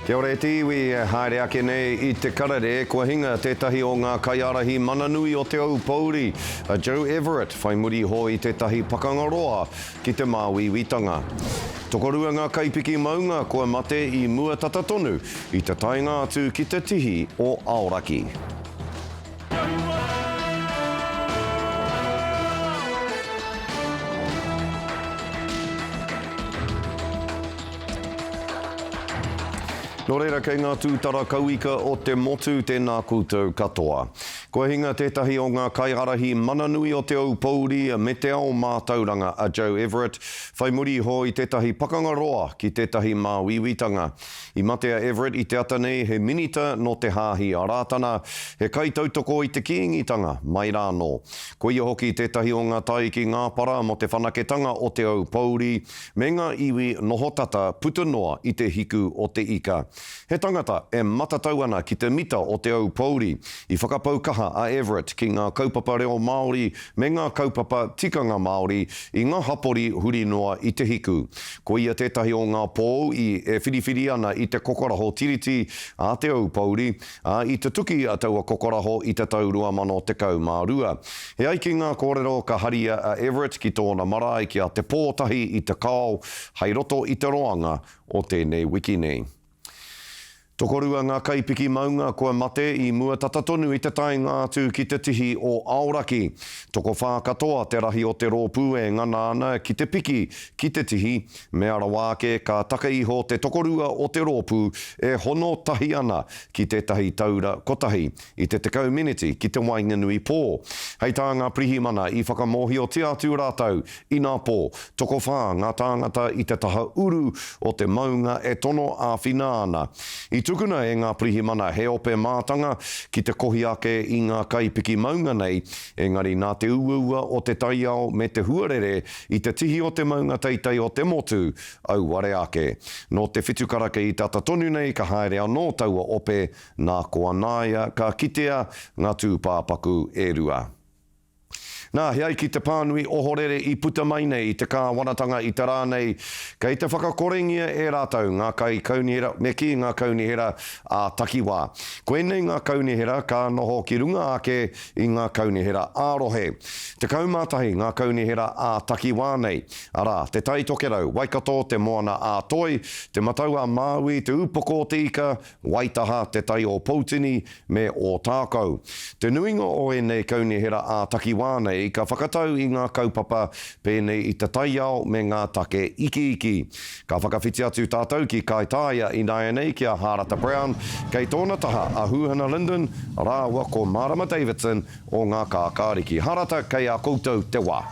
Kia ora e te iwi, e haere ake nei i te karere, kua hinga tētahi o ngā kaiārahi mana nui o Te Aupōuri, a Joe Everett, whai muri iho i tētahi pakanga roa ki te māuiuitanga. Tokorua ngā kaipiki maunga kua mate i mua tata tonu i te taenga atu ki te tihi o Aoraki. Nō reira, kei ngā tūtara kauika o te motu tēnā koutou katoa. Kua hinga tētahi o ngā kaiārahi mana nui o Te Ou Pouri me te Ao Mātauranga, a Joe Everett, whai muri iho i tētahi pakanga roa ki tētahi māuiuitanga. I mate a Everett i te ata nei he minita nō te Hāhi a Rātana, he kaitautoko i te Kīngitanga, mai rānō. Koia hoki tētahi o ngā tae ki Ngāpara mō te whanaketanga o Te Aupōuri me ngā iwi noho tata puta noa i te hiku o te ika. He tangata e matatau ana ki te mita o Te Aupōuri. I whakapau kaha a Everett ki ngā kaupapa reo Māori me ngā kaupapa tikanga Māori i ngā hapori huri noa i te hiku. Ko ia tētahi o ngā pou i e whiriwhiri ana i te kokoraho Tiriti a Te Aupōuri, ā, i tutuki a taua kokoraho i te tau 2012. E ai ki ngā kōrero ka haria a Everett ki tōna marae ki a Te Pōtahi i Te Kao hei roto i te roanga o tēnei wiki nei. Tokorua ngā kaipiki maunga kua mate i mua tata tonu i te taenga atu ki te tihi o Aoraki. Tokowhā katoa te rahi o te rōpū e ngana ana ki te piki ki te tihi, mea rawa ake ka take iho te tokorua o te rōpū e hono tahi ana ki tētahi taura kotahi, i te tekau miniti ki te waenganui pō. Hei tā ngā pirihimana i whakamōhiotia atu rātou, inā pō, tokowhā ngā tāngata i te taha uru o te maunga e tono āwhina ana. I tukuna e ngā pirihimana he ope mātanga ki te kohi ake i ngā kaipiki maunga nei, engari nā te uaua o te taiao me te huarere i te tihi o te maunga teitei o te motu, auare ake. Nō te whitu karaka i tata tonu nei ka haere anō taua ope, Nā ko Anaia ka kitea ngā tūpāpaku e rua. Nā, he ai ki te pānui ohorere i puta mai nei i te kāwanatanga i te rā nei, kei te whakakorengia e rātou ngā kaikaunihera me kī ngā kaunihera ā-takiwā. Koinei ngā kaunihera ka noho ki runga ake i ngā kaunihera ā-rohe. Tekau mā tahi ngā kaunihera ā-takiwā nei, arā, te Tai Tokerau, Waikato, te Moana-a-Toi, te Matau-a-Māui, te Upoko-o-te-Ika, Waitaha, te tai o Poutini me Ōtākou. Te nuinga o ēnei kaunihera ā-takiwā nei ka whakatau i ngā kaupapa pēnei i te taiao me ngā take ikiiki. Ka whakawhiti atu tātou ki Kaitaia ināianei ki a Hārata Brown, kei tōna taha a Hūhana Linden rāua ko Mārama Davidson o ngā Kākāriki. Hārata, kei a koutou te wā.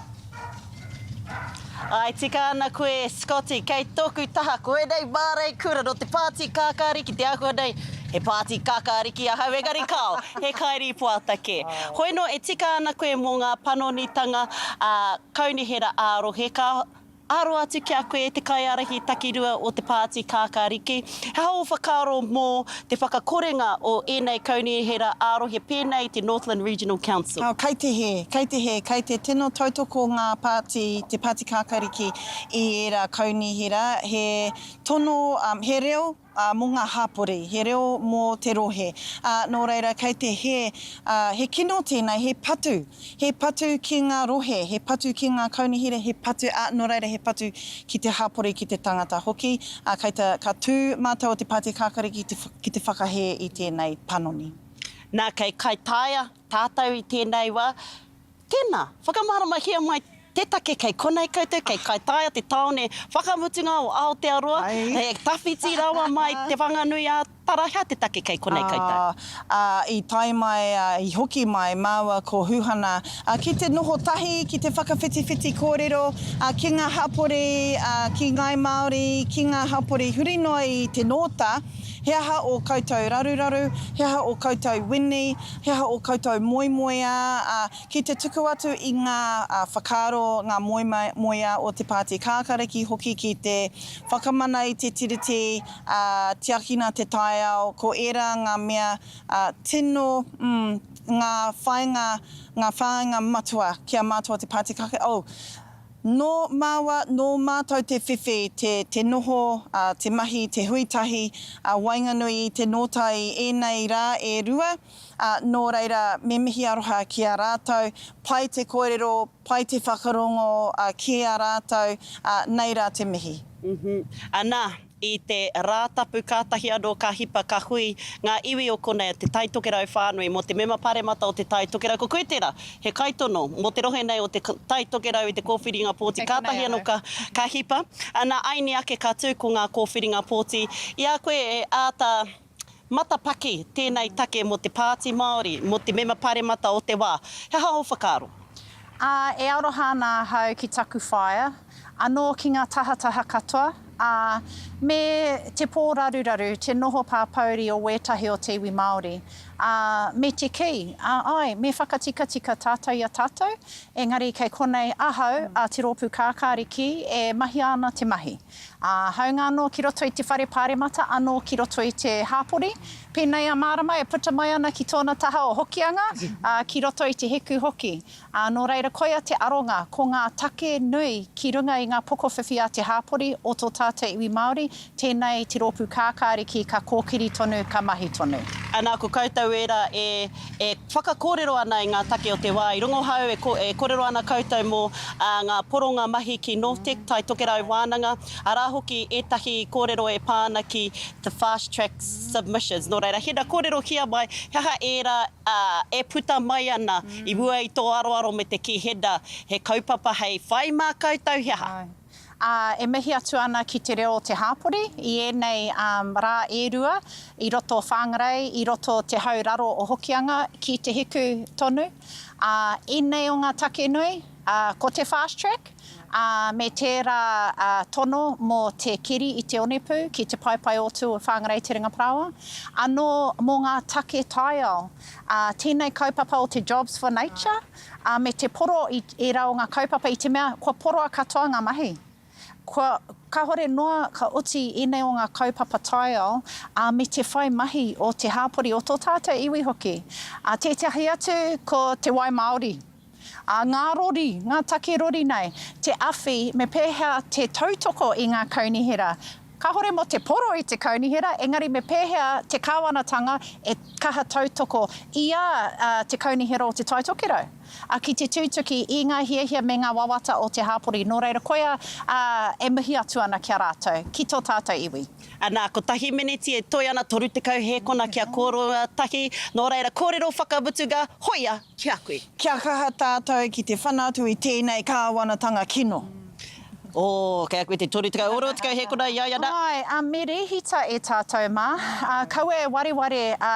Ā, e tika ana koe, Scotty, kei tōku taha, ko ēnei mārei kura nō te pāti kākāri ki te āhua nei, he pāti kākāri ki ahau, engari kāo, he kairīpoata kē. Hoi nō, e tika ana koe mō ngā panonitanga ā Kaunihera ā-rohe, ka aro atu ki a koe e te kaiārahi takirua o te pāti kākāriki, He aha ō whakaaro mō te whakakorenga o ēnei kaunihera ā-rohe pēnei i te Northland Regional Council? Kei te hē, kei te hē, kei te tino tautoko ngā pāti, te Pāti Kākāriki i ērā kaunihera, he tono, he reo mō ngā hāpori, he reo mō te rohe. Nō reira, kei te hē, he kino tēnei, he patu He patu ki ngā rohe, he patu ki ngā kaunihera, he patu, ā, nō reira, he patu ki te hapori, ki te tangata hoki. Ā, kei te, ka tū mātou o te Pāti Kākari ki te, ki te whakahē i tēnei panoni. Nā, kei Kaitaia tātou i tēnei wā. Tēnā, whakamaharamahia mai te take kei konei koutou, kei Kaitaia te tāone whakamutunga o Aotearoa, he tawhiti rawa mai Te Whanganui a Tara, hea te take kei konei koutou? Ā, i tae mai, ā, i hoki mai māua ko Huhana, ā, ki te noho tahi, ki te whakawhitiwhiti kōrero, ā, ki ngā hapori, ā, ki ngāi Māori, ki ngā hapori huri noa i te Nōta, he aha ō koutou raruraru, he aha ō koutou wini, he aha ō koutou moemoeā, ā, ki te tuku atu i ngā whakaaro, ngā moemoeā o te Pāti Kākāriki hoki ki te whakamana i te Tiriti, ā, tiakina te taiao, ko ērā ngā mea tino, mm, ngā whāinga, ngā whāinga matua ki a mātou o te Pāti Kake, oh, nō māua, nō mātou te whiwhi, te, te noho, te mahi, te hui tahi, waenganui i te nōtai ēnei rā e rua. ā, nō reira, me mihi aroha ki a rātou, pai te kōrero, pai te whakarongo ki a rātou, ā, nei rā te mihi. Uhum. Anā, i te Rātapu kātahi anō ka hipa, ka hui ngā iwi o konei a Te Tai Tokerau whānui mō te Mema Pāremata o Te Tai Tokerau. Ko koe tērā, he kaitono mō te rohe nei o Te Tai Tokerau i te kōwhiringa pōti kātahi anō ka, ka hipa. Anā, āiini ake ka tū ko ngā kōwhiringa pōti i a koe e āta. Matapaki tēnei take mō te Pāti Māori, mō te Mema Pāremata o te wā. He aha ō whakaaro? Ā, e aroha ana ahau ki taku whaea, anō ki ngā tahataha katoa, ā, me te pōraruraru, te noho pāpōuri o wētahi o te iwi Māori, ā, me te kī, ā, āe, me whakatikatika tātou i a tātou, engari kei konei ahau, a Te Rōpū Kākāriki, e mahia ana te mahi. Ā, hāunga anō ki roto i te whare pāremata, anō ki roto i te hāpori, pēnei a Mārama e puta mai ana ki tōna taha o Hokianga, ā, ki roto i te hiku hoki. Ā, nō reira koia te aronga, ko ngā take nui ki runga i ngā pokowhiwhi a te hāpori o tō tātou iwi Māori, tēnei te rōpū kākāriki ka kōkiri tonu, ka mahi tonu. Anā, ko koutou ērā e E whakakōrero ana i ngā take o te wā i rongohau, e kōrero ana koutou mō ngā poronga mahi ki Nortec, Tai Tokerau Wānanga, arā hoki ētahi kōrero e pā ana ki te Fast Track Submissions. Nō reira, hina kōrero ki a mai, he aha ērā e puta mai ana i mua i tō aroaro me te kī, Header, he kaupapa hei whai mā koutou he aha? ā, e mihi atu ana ki te reo o te hāpori i ēnei rā e rua i roto o Whangarei, i roto o te hau raro o Hokianga ki Te Hiku tonu. Ā, ēnei o ngā take nui, ā, ko te Fast Track, ā, me tērā tono mō te keri i te onepū ki te paepae o Tū o Whangarei Te Ringa Parāoa, anō mō ngā take taiao, ā, tēnei kaupapa o te Jobs for Nature, ā, me te poro i ērā o ngā kaupapa i te mea kua poroa katoa ngā mahi. Kua, kāhore noa ka oti ēnei o ngā kaupapa taiao, ā, me te whai mahi o te hāpori, o tō tātou iwi hoki. Ā, tētahi atu ko te wai māori, ā, ngā rori, ngā take rori nei, te awhi me pēhea te tautoko i ngā kaunihera Kahore mo te poro i te kaunihera, engari me pehea te kawanatanga e kaha tautoko i a te kaunihera o Te Tai Tokerau a ki te tutuki i nga hiahia me nga wawata o te hapori, no reira koia a e mihi atu ana ki a ratou, ki to tatou iwi. Ana, kotahi miniti e toe ana, 30 hēkona kia kōrua tahi, nō reira kōrero whakamutunga, hoia ki a koe. Kia kaha tātou ki te whana atu i tēnei kāwanatanga kino. Oh, kei a koe te toru tekau, oro tekau he kona i a ia, na. Āe, ā, me rēhita e tātou mā, ā, kaua e wareware, ā,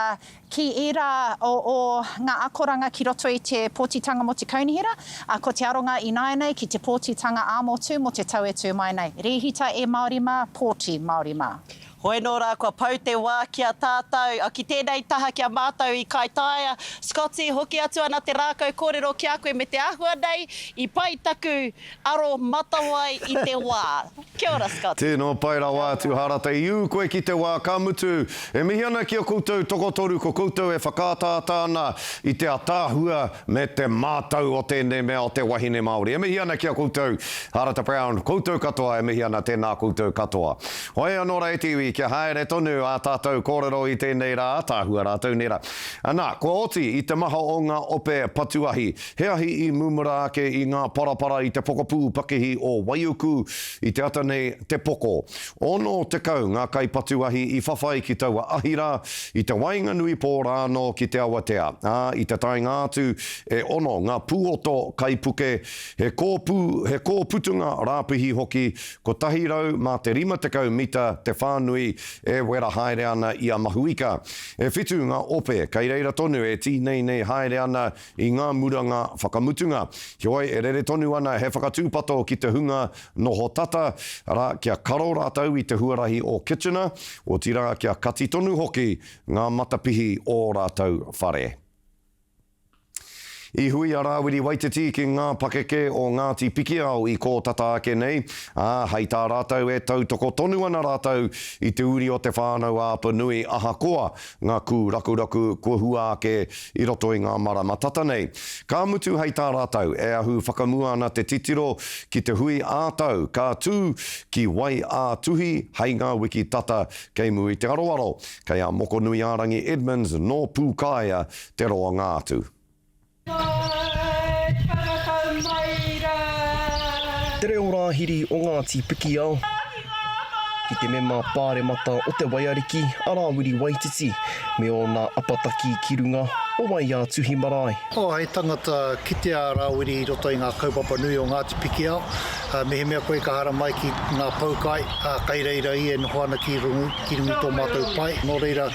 ki ērā o, o ngā akoranga ki roto i te pōtitanga mō te kaunihera, ā, ko te aronga ināianei ki te pōtitanga ā-motu mō te tau e tū mai nei. Rēhita e Māori mā, pōti Māori mā. Hoi nō rā kua pau te wā ki a tātau, ki tēnei taha ki a mātau i Kaitaia. Scotty, hoki atu ana te rākau kōrero ki a koe me te āhua nei i pai taku aro matawai i te wā. Kia ora Scotty. Tēnā, pai rawa atu Hārata. I ū koe ki te wā, ka mutu, e mihi ana ki a koutou tokotoru, ko koutou e whakaataata ana i te ataahua me te mātau o tēnei mea o te wahine Māori. E mihi ana ki a koutou, Hārata Brown, koutou katoa e mihi ana, tēnā koutou katoa. Hoi anō rā e te iwi, kia haere tonu ā tātou kōrero i tēnei rā, ātaahua rātou nera. Anā, kua oti i te maha o ngā ope patuahi, he ahi i mumura ake i ngā parapara i te pokapū pakihi o Waiuku i te ata nei te poko. Ono tekau ngā kaipatuahi i whawhai ki taua ahi rā, i te waenganui pō rā anō ki te awatea, ā, i te taenga atu, e ono ngā pūoto kaipuke, he kōpū, he kōputunga rāpihi hoki, Kotahi rau mā te rima tekau mita te whānui e wera haere ana i a Mahuika. E whitu ngā ope, kei reira tonu e tīneinei haere ana i ngā muranga whakamutunga. Heoi, e rere tonu ana he whakatūpato ki te hunga noho tata, arā, kia karo rātou i te huarahi o Kitchener, otirā kia kati tonu hoki ngā matapihi o ō rātou whare. I hui a Rāwiri Waititi ki ngā pakeke o Ngāti Pikiao i kō tata ake nei, ā, hei tā rātou e tautoko tonu ana rātou i te uri o Te Whānau-a-Apanui ahakoa ngā kūrakuraku kua hua ake i roto i ngā marama tata nei. Ka mutu hei tā rātou e ahu whakamua ana te titiro ki te hui ā-tau ka tū ki Wai-ā-Tuhi hei ngā wiki tata kei Mui-te-aroaro, kei a Mokonui-ā-rangi Edmonds nō Pūkāea te roanga atu. Hai whakatau mai ra. Te reo rāhiri o Ngāti Pikiao ki te mema pāremata o Te Waiariki a Rāwiri Waititi me ōna apataki ki runga o Wai-ā-tuhi marae. Oh, hei tangata kitea a Rāwiri i roto i ngā kaupapa nui o Ngāti Pikiao. Mehemea koe ka haramai ki ngā poukai, kai reira i e noho ana ki rungu. ki runga i tō mātou pae, nō reira,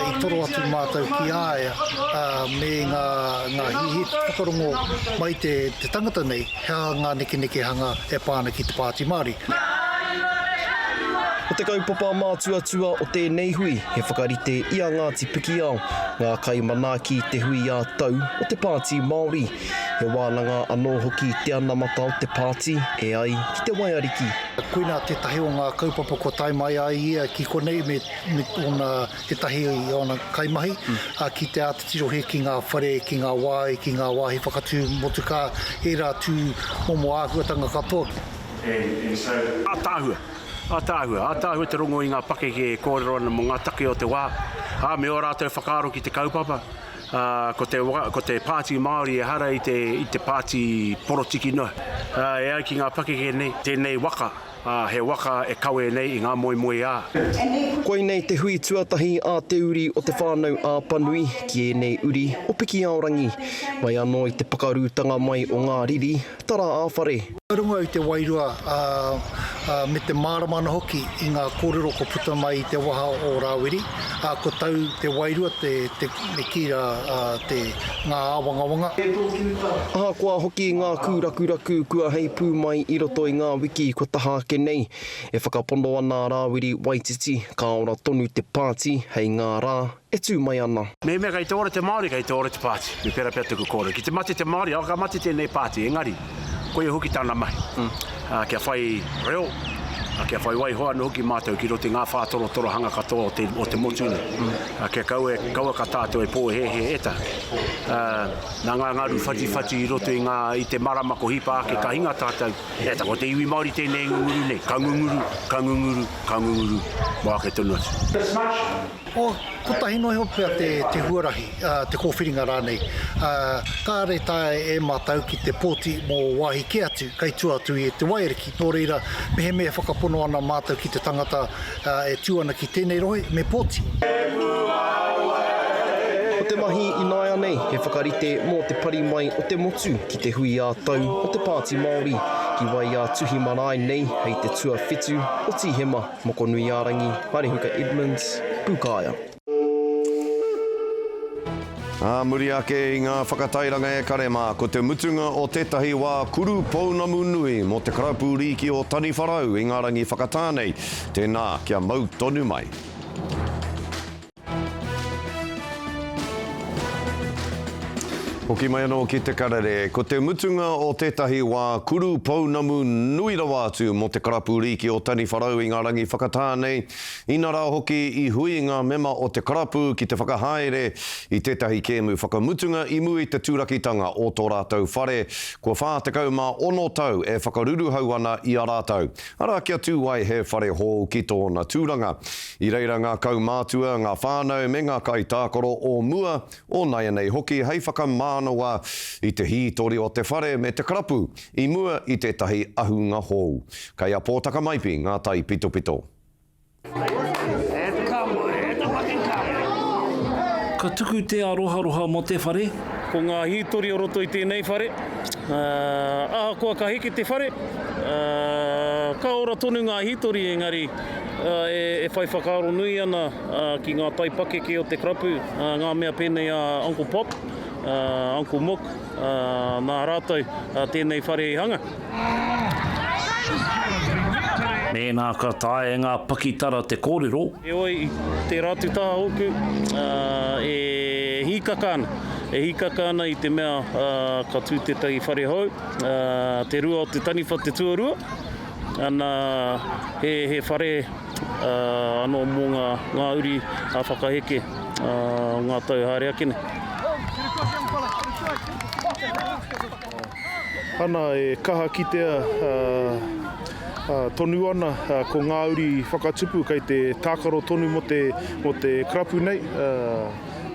i toro atu mātou ki a ia, me ngā hihi whakarongo mai te tangata nei, hea ngā nekenekehanga e pā ana ki te Pāti Māori. Ko te kaupapa mātuatua o tēnei hui, he whakarite i a Ngāti Pikiao, ngā kaimanaaki i te hui ā-tau o te Pāti Māori, He wānanga anō hoki te anamata o te pāti, e ai ki te waiariki. Koinā tētahi o ngā kaupapa kua tae mai a ia ki konei me ōna ētahi o ōna kaimahi, ki te āta tirohia ki ngā whare, ki ngā wāhi, ki ngā wāhi whakatū motukā, ērā tū momo āhuatanga katoa. Ātaahua, ātaahua, ātaahua te rongo i ngā pakeke e kōrero ana mō ngā take o te wā, ā, me ō rātou whakaaro ki te kaupapa, Ā, ko te, ko te Pāti Māori ehara i te, i te pāti porotiki noa. Ā, e ai ki ngā pakeke nei, tēnei waka, ā, he waka e kawe nei i ngā moemoeā. Koinei te hui tuatahi a te uri o Te Whānau a Apanui ki ēnei uri o Pikiaorangi. Mai anō i te pakarūtanga mai o ngā riri, Tara a whare. I runga i te wairua me te mārama ana hoki i ngā kōrero kua puta mai i te waha o Rāwiri, ko tau te wairua me kī rā ngā āwangawanga. Ahakoa hoki ngā kūrakuraku kua heipū mai i roto i ngā wiki kua taha ake nei, e whakapono ana a Rāwiri Waititi ka ora tonu te pāti hei ngā rā e tū mai ana. Mehemea kei te ora te Māori, kei te ora te pāti, me pērā pea tuku kōrero. Ki te mate te Māori, awa ka mate tēnei pāti, engari, koia hoki tāna mahi, kia whai reo, kia whai waiho anō hoki mātou ki roto i ngā whā torotorohanga katoa o te, o te motu nei. Kia kaua e, kaua ka tātou e pōhēhē e taku. Nā ngā ngaru whatiwhati i roto i ngā, i te marama ko hipa ake ka hinga tātou, e taku, ko te iwi Māori tēnei e ngunguru nei, ka ngunguru, ka ngunguru, ka ngunguru, mō ake tonu atu. Ko, kotahi noa iho pea te, te huarahi, ā, te kōwhiringa rānei. Ā, kāre taea e mātou ki te pōti mō wāhi kē atu kei tua atu i te waiariki, nō reira, mehemea e whakapono ana mātou ki te tangata, ā, e tū ana ki tēnei rohe, me pōti. Ko te mahi ināianei he whakarite mō te pari mai o te motu ki te hui ā-tau o te Pāti Māori ki wai ā-tuhi marae nei hei te tuawhitu o Tīhema. Mokonuiārangi, Parehuka Edmonds, Pūkaea. Ā muri ake i ngā whakatairanga ekare mā, ko te mutunga o tētahi wā kuru pounamu nui mō te Karapu Rīki o Taniwharau i ngā rangi whakatā nei, tēnā kia mau tonu mai. Hoki mai anō ki te karere. Ko te mutunga o tētahi wā kuru pounamu nui rawa atu mō te karapu rīki o Taniwharau i ngā rangi whakatā nei, inarā hoki i hui ngā mema o te karapu ki te whakahaere i tētahi kēmu whakamutunga i mua i te turakitanga o tō rātou whare kua 46 tau e whakaruruhau ana i a rātou. Arā, kia tū ai he whare hou ki tōna tūranga. I reira ngā kaumātua, ngā whānau me ngā kaitākaro o mua, o naianei hoki hei whakamānawa i te hītori o te whare me te karapu i mua i tētahi ahunga hou. Kei a Pōtakamaipi ngā taipitopito. Ka tuku te aroharoha mo te whare. Ko ngā hītori o roto i tēnei whare, ahakoa ka heke te whare, ka ora tonu ngā hītori engari e whai whakaaro nui ana ki ngā taipakeke o te karapu, ngā mea pēnei a Uncle Pop, Uncle Mook, Mā rātou tēnei whare i hanga. Mēnā ka taea e ngā pakitara te kōrero. Heoi, tērā atu taha ōku e hīkaka ana. E hīkaka ana i te mea ka tū tētahi whare hou, te rua o te taniwha te tuarua, Ana, he whare anō mō ngā uri a whakaheke o ngā tau haere ake nei. Ana, e kaha kitea tonu ana ko ngā uri whakatupu kei te tākaro tonu mō te karapu nei,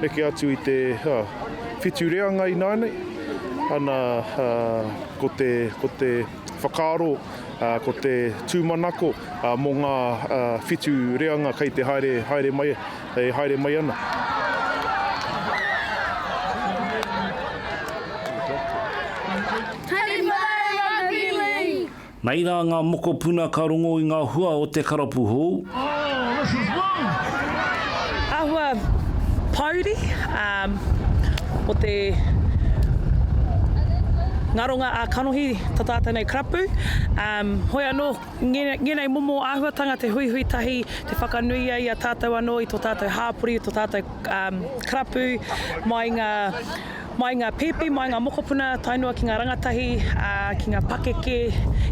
neke atu i te whitu reanga ināianei. Ana, ko te Whakaaro, ko te tūmanako mō ngā whitu reanga kei te haere, haere mai, e haere mai ana. Nei rā ngā mokopuna ka rongo i ngā hua o te karapu hou. Āhua pōuri mō te ngaronga a kanohi tā tātou nei karapu. Hoi anō, ngēnei momo āhuatanga te huihui tahi, te whakanuia i a tātou anō, i tō tātou hāpori, i tō tātou karapu, mai ngā. Mai ngā pēpi, mai ngā mokopuna, tae noa ki ngā rangatahi, ā, ki ngā pakeke,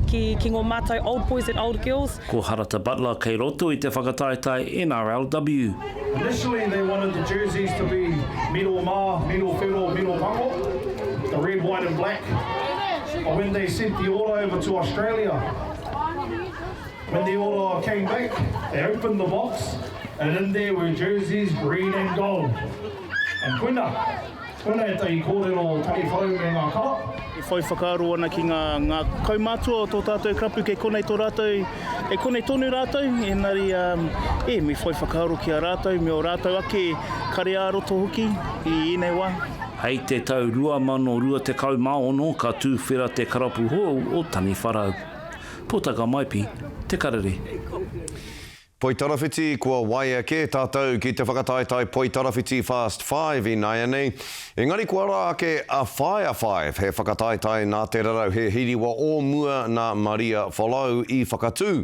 ki, ki ngō mātou old boys and old girls. Ko Harata Butler kei roto i te whakataetae NRLW. Initially they wanted the jerseys to be miro ma, miro whero, miro mango, the red, white and black, but when they sent the order over to Australia, when the order came back, they opened the box and in there were jerseys red and gold. And koina, koina etahi kōrero o Taniwhau me ngā kara. E whai whakaaro ana ki ngā, ngā kaumātua o tō tātou karapu kei konei tō rātou, kei konei tonu rātou, ēnari, e, me whai whakaaro ki a rātou me o rātou ake kare ā roto hoki i ēnei wā. Hei te tau 2026 ka tūwhera te karapu hou o Taniwharau. Pōtaka Maipi, Te Karere. Poitarawhiti kua waia kē tātou ki te whakataetae Poitarawhiti Fast Five ināianei, engari kua rā ake a Whaea Five, he whakataetae nā Te Rarau He Hiriwa o mua nā Maria Folau i whakatū.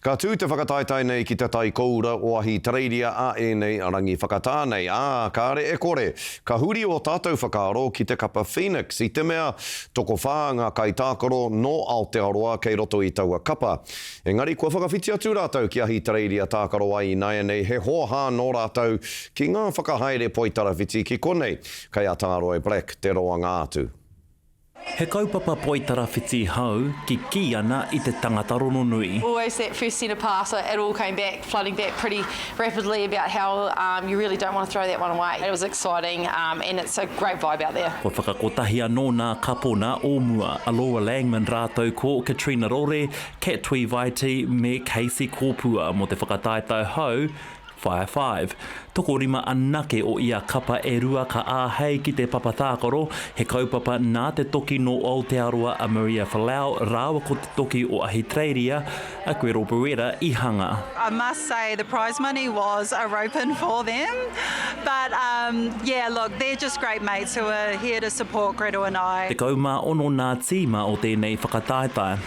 Ka tū te whakataetae nei ki te tai koura o Ahitereiria a ēnei rangi whakatā nei, ā, kāre e kore, ka huri ō tātou whakaaro ki te kapa Phoenix i te mea tokowhā ngā kaitākaro nō Aotearoa kei roto i taua kapa. Engari kua whakawhiti atu rātou ki Ahitereiria tākaro ai ināianei he hōhā nō rātou ki ngā whakahaere poitarawhiti ki konei, kei a Tāroe Black te roanga atu. He kaupapa poitarawhiti hou kikī ana i te tangata rononui. Always that first centre pass it all came back flooding back pretty rapidly about how um you really don't want to throw that one away. It was exciting um and it's a great vibe out there. Kua whakakotahi anō nā Kapona o mua, a Laura Langman rātou ko Katrina Rore, Kat Tuivaiti me Casey Kopua mō te whakataetae hou, Fire Five. Tokorima anake o ia kapa e rua ka āhei ki te papa tākaro, he kaupapa nā te toki nō Aotearoa a Maria Falau rāua ko te toki o Ahitereiria a Gretel Beretta i hanga. I must say the prize money was a ropin for them but um yeah look they're just great mates who are here to support Gretel and I. Tekau mā ono nā tīma o tēnei whakataetae.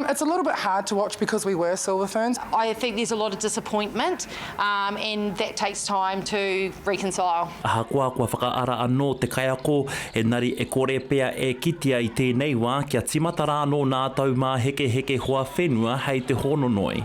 It's a little bit hard to watch because we were silver ferns. I think there's a lot of disappointment um, and that takes time to reconcile. Ahakoa kua whakaara anō te kaiako, engari e kore pea e kitea i tēnei wā kia tīmata rānō nā tau māhekeheke hoa whenua hei te hōnonoi.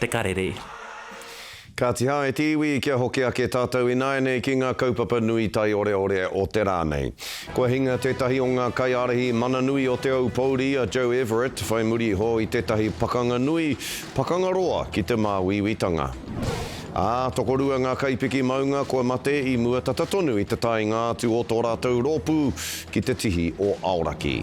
te karere. Kāti hā, e te iwi, kia hoki ake tātou ināianei ki ngā kaupapa nui taioreore o te rā nei. Kua hinga tētahi o ngā kaiārahi mana nui o Te Ou Pouri, a Joe Everett, whai muri iho i tētahi pakanga nui, pakanga roa ki te māuiuitanga. Ā, tokorua ngā kaipiki maunga kua mate i mua tata tonu i te taenga atu o tō rātou rōpū ki te tihi o Aoraki.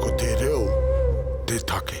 Ko te reo te take.